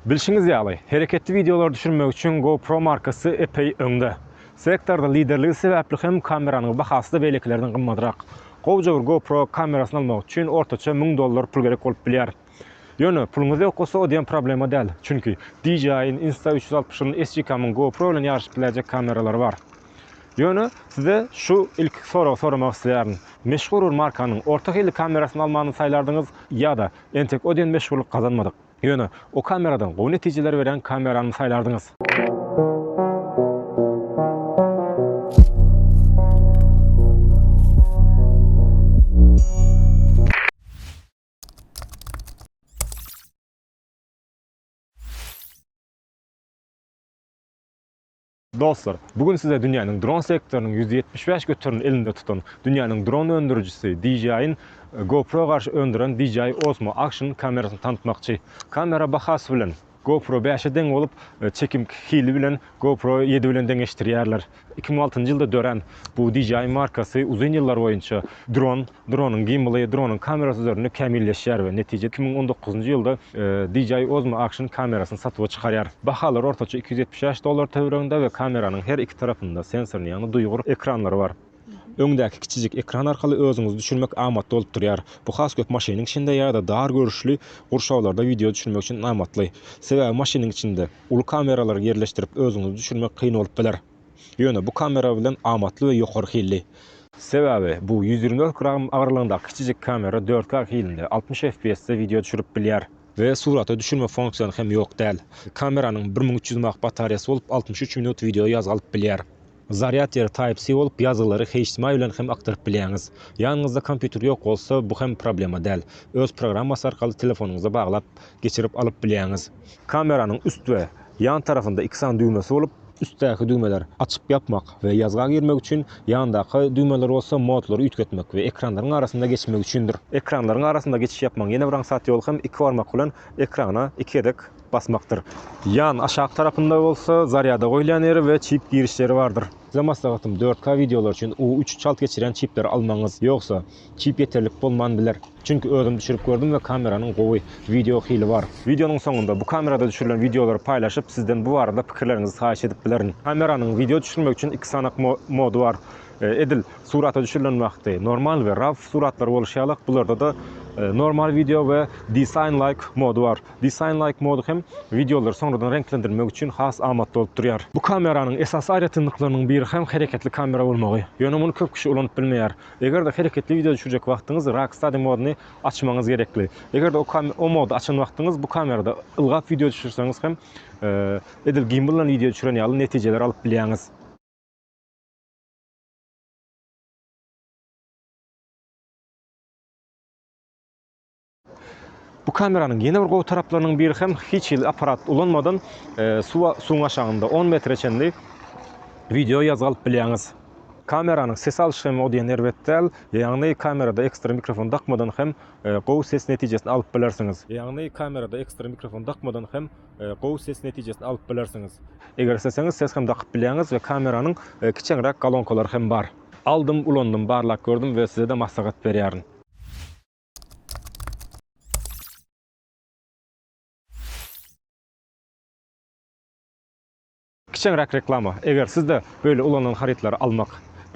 Bilşiňiz ýaly, hereketli wideolary düşürmek üçin GoPro markasy epeý öňde. Sektorda liderligi sebäpli hem kameranyň bahasy-da beýlekilerden gymmadrak. Gowja bir GoPro kamerasyny almak üçin ortaça müň dollar pul gerek bolup bilýär. Ýöne puluňyz ýok bolsa o diýen problema däl. Çünki DJI-iň Insta360-yň, SGCAM-yň GoPro bilen ýaryşyp biläýjek kameralary bar. Ýöne size şu ilki soragy soramak isleýärin. Meşhur bir markanyň orta hilli kamerasyny almany saýlardyňyz ýa-da entek o diýen meşhurlyk gazanmadyk, ýöne o kameradan gowy netijeleri berýän kamerany saýlardyňyz? Dostlar, bu gün size dünýäniň dron sektorynyň ýüz ýetmiş bäş göterimini elinde tutan, dünýäniň dron öndürijisi DJI-iň GoPro garşy öndüren DJI Osmo Action kamerasyny tanatmakçy. Kamera bahasy bilen GoPro bäşe deň bolup, çekim hili bilen GoPro ýedi bilen deňeşdirýärler. Iki müň altynjy ýylda dörän bu DJI markasy uzyn ýyllar boýunça dron, Dronyň gimbaly, dronyň kamerasy üzerinde kämilleşýär we netije iki müň on dokuzynjy ýylda DJI Osmo Action kamerasyny satuwa çykarýar. Bahalar ortaça iki ýüz ýetmiş bäş dollar töwereginde we kameranyň her iki tarapynda sensorly, ýagny duýgur, ekranlary bar. Öňdäki kiçijik ekran arkaly özüňizi düşürmek amatly bolup durýar. Bu has köp maşynyň içinde ýa-da dar görüşli gurşawlarda wideo düşürmek üçin amatly. Sebäbi maşynyň içinde uly kameralary ýerleşdirip özüňizi düşürmek kyn bolup biler. Ýöne bu kamera bilen amatly we ýokary hilli. Sebäbi bu ýüz ýigrimi dört gram agyrlygyndaky kiçijik kamera dört K hilinde altmyş FPS-de wideo düşürip bilýär. We surata düşürme funksiýany hem ýok däl. Kameranyň bir müň üç ýüz mAh batarýasy bolup, altmyş üç minut wideo ýazgy alyp bilýär. Zarýad ýeri Type-C bolup, ýazgylary HDMI bilen hem akdyryp bilýäňiz. Ýanyňyzda kompýuter ýok bolsa, bu hem problema däl. Öz programmasy arkaly telefonyňyza baglap, geçirip alyp bilýäňiz. Kameranyň üst we ýan tarafynda iki sany düwmesi bolup, üstdäki düwmeler açyp-ýapmak we ýazga girmek üçin, ýandaky düwmeler bolsa modlary üýtgetmek we ekranlaryň arasynda geçmek üçindir. Ekranlaryň arasynda geçiş ýapmagyň ýene bir aňsat ýoly hem iki barmak bilen ekrana iki gezek basmakdyr. Ýan aşak tarapynda bolsa zarýada goýulýan ýeri we çip girişleri bardyr. Size maslahatym dört K wideolar üçin U üç çalt geçirýän çipleri almagyňyz, ýogsa Çip ýeterlik bolman biler. Çünki özüm düşürip gördüm we kameranyň gowy wideo hili bar. Wideonyň soňunda bu kamerada düşürilen wideolary paýlaşyp sizden bu barada pikirleriňizi haýyş edip bilerin. Kameranyň wideo düşürmek üçin iki sanak mody bar. Edil surata düşürilen wagty normal we raw suratlar boluşy ýalak bularda-da normal wideo we design like mody bar. Design like mody hem wideolary soňradan reňklendirmek üçin has amatly bolup durýar. Bu kameranyň esasy aýratynlyklarynyň biri hem hereketli kamera bolmagy. Ýöne muny köp kişi ulanyp bilmeýär. Eger-de hereketli wideo düşürjek wagtyňyz Rock Study moduny açmagyňyz gerekli. Eger-de o mody açan wagtyňyz bu kamerada ylgap wideo düşürseňiz hem edil gimbaldan wideo düşüren ýaly netijeleri alyp bilýäňiz. Bu kameranyň ýene bir gowy taraplarynyň biri hem hiç hili apparat ulanmadan suwa suwuň aşagynda on metre çenli wideo ýazgy alyp bilýäňiz. Kameranyň ses alşy hem o diýen erbet däl. Ýagny kamerada ekstra mikrofon dakmadan hem gowy ses netijesini alyp bilersiňiz. Ýagny kamerada ekstra mikrofon dakmadan hem gowy ses netijesini alyp bilersiňiz. Eger isleseňiz ses hem dakyp bilýäňiz we kameranyň kiçeňräk galonkalary hem bar. Aldym ulandym barlap gördüm we sizede maslahat berýärin. Kiçeňräk reklama, Eger siz-de böyle ulanan harytlary almak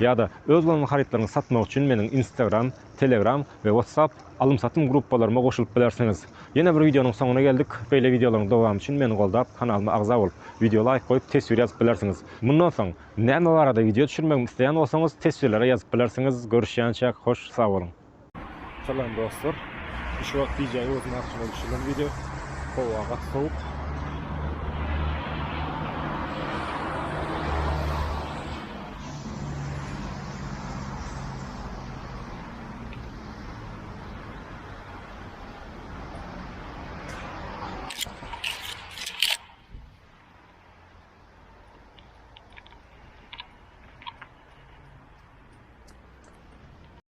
ýa-da öz ulanan harytlaryňyzy satmak üçin meniň Instagram, Telegram we WhatsApp alym-satym gruppalaryma goşulyp bilersiňiz. Ýene bir wideonyň soňuna geldik. Beýle wideolaryň dowamy üçin meni goldap, kanalyma agza bolup, wideo laýk goýup, teswir ýazyp bilersiňiz. Mundan soň näme barada wideo düşürmegimi isleýän bolsaňyz, teswirlere ýazyp bilersiňiz. Görüşýänçäk, hoş, sag boluň! Salam dostlar. Şu wagt DJ Ozun arkaly düşürilen video. Howa gaty sowuk.